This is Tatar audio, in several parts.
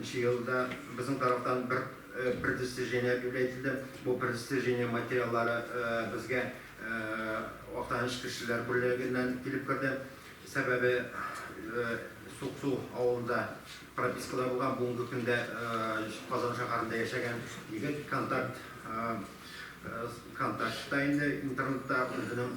Нче елда безнең тарафтан бер предостережение бирү әйтелде. Бу предостережение материаллары безгә Актаныш кешеләр бүлегеннән килеп керде. Сәбәбе, Суксу авылында пропискада булган, бүгенге көндә Казан шәһәрендә яшәгән егет контакт контактта инде интернетта үзенең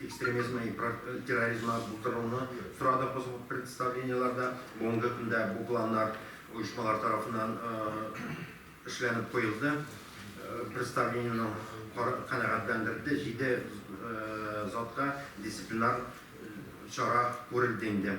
экстремизмы и терроризмы булдыруны сорадык без бу представлениеләрдә. Бүгенге көндә бу планнар оешмалар тарафыннан эшләнеп куелды. Представлениене канәгатьләндерде. Җиде затка дисциплинар чара күрелде инде.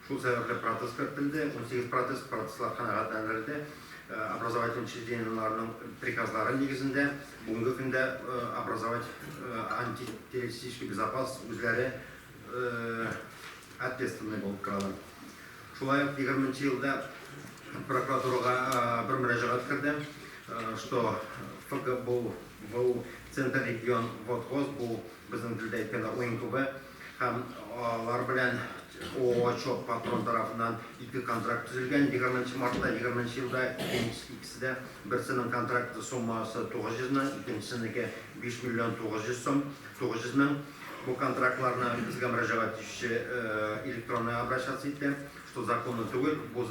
Шул сәбәпле протез кертелде, унсигез протез, протезлар канәгатьләндерелде. Образовательный учреждениеләрнең приказлары нигезендә бүгенге көндә образовать антитеррористический безопас үзләре ответственный булып торалар. Шулай ук егерме нче елда прокуратурага бер мөрәҗәгать керде, что ФГБУ центр регион вот вот бу безнең телдә әйткәндә уен клубы, Һәм алар белән ООО ЧОП-Патрон тарафыннан ике контракт төзелгән, егерме нче мартта, егерме нче елда икенчесе дә, берсенең контракты суммасы 900 мең, икенчесенеке 5 миллион 900 сум, 900 мең. Бу контрактларны безгә мөрәҗәгать итүче электронный обращаться итте, что законно түгел, бу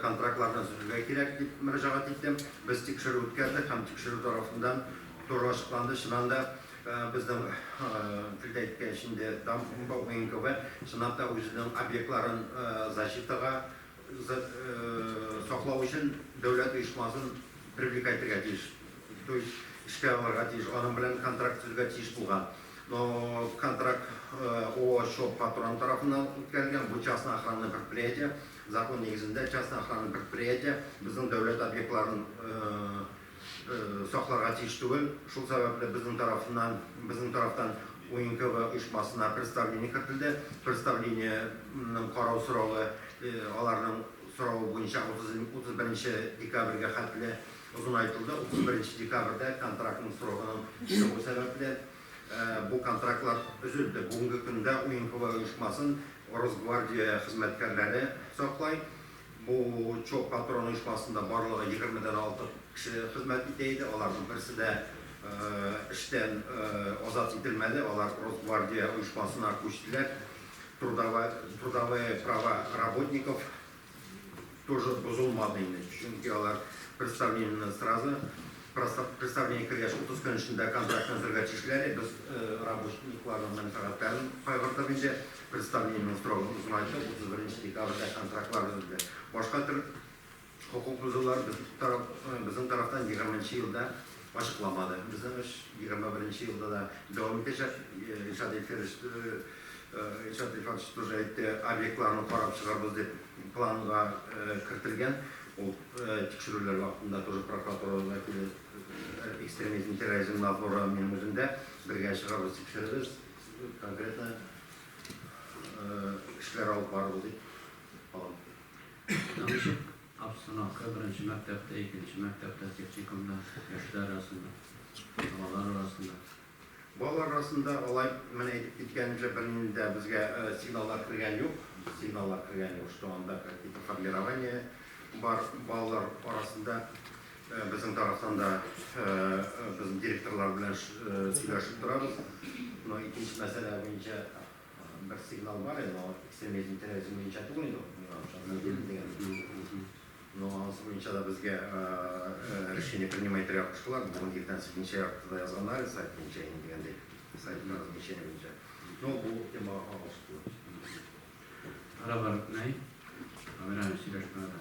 контрактларны өзелергә кирәк, дип мөрәҗәгать итте. Без тикшерү үткәрдек һәм тикшерү тарафыннан туры ачыкланды, чыннан да, Безнең телдә әйткәч инде, дамбовоенкв чынлап та үзенең объектларын защитага саклау өчен дәүләт оешмасын привлекать итәргә тиеш. То есть эшкә алырга тиеш, аның белән контракт төзергә тиеш булган. Но контракт ООО Чоп патрон тарафыннан үткәрелгән, бу частный охранный предприятие, закон нигезендә частный охранный предприятие безнең дәүләт объектларын сакларга тиеш түгел. Шул сәбәпле безнең тарафыннан, безнең тарафтан УНКВА оешмасына представление кертелде. Представлениенең карау срогы аларның соравы буенча 31 декабрьгә хәтле озынайтылды. 31 декабрьдә контрактның срогының чыгуы сәбәпле, бу контрактлар өзелде. Бүгенге көндә УНКВА оешмасын Росгвардия хезмәткәрләре саклый. Бу чок патрон оешмасында барлыгы егерме дән алтык кеше хезмәт итә иде. Аларның берсе дә эштән азат ителмәде. Алар Росгвардия оешмасына күчтеләр. Трудовые права работников тоже бозылмады инде. Чөнки алар представлениене сразу представление кергәч утыз көн эчендә контрактны өзергә тиешләр. Без работникларның мәнфәгатьләрен кайгырдык инде. Представлениенең срогын узмаенча 31 декабрьдә контрактлар өзелде. Башка төр хокук бозулар безнең тарафтан 20 нче елда ачыкламады. Безнең эш 21 нче елда да дәвам итәчәк, Илшат Илфирович Илшат Илфатович тоже әйтте, объектларны карап чыгарбыз дип планга кертелгән. Ул тикшерүләр вакытында тоже прокуратура вәкиле экстремизм терроризм надзоры минем үзем дә бергә чыгарбыз, тикшерербез. конкретно эшләр алып барылды дип обстановка беренче мәктәптә икенче мәктәптә техникумда яшьләр арасында балалар арасында Балалар арасында алай менә әйтеп киткәнчә бернинди дә безгә э, сигналлар кергән юк. Сигналлар кергән юк, что анда какие-то формирование бар балалар арасында. Безнең тарафтан да без директорлар белән сөйләшеп торабыз. Но икенче мәсьәлә буенча бер сигнал бар иде, но экстремизм и терроризм буенча түгел инде ул, миңа ошады, мин бирдем дигән. Но анысы буенча да безгә решение принимай итәргә куштылар, бүген иртән сигничә якты да язганнар иде сайт буенча инде дигәндәй, сайт размещение буенча. Но бу темага кагылышлы түгел. Ара бар бит, нәй? Камера сөйләшмә ара.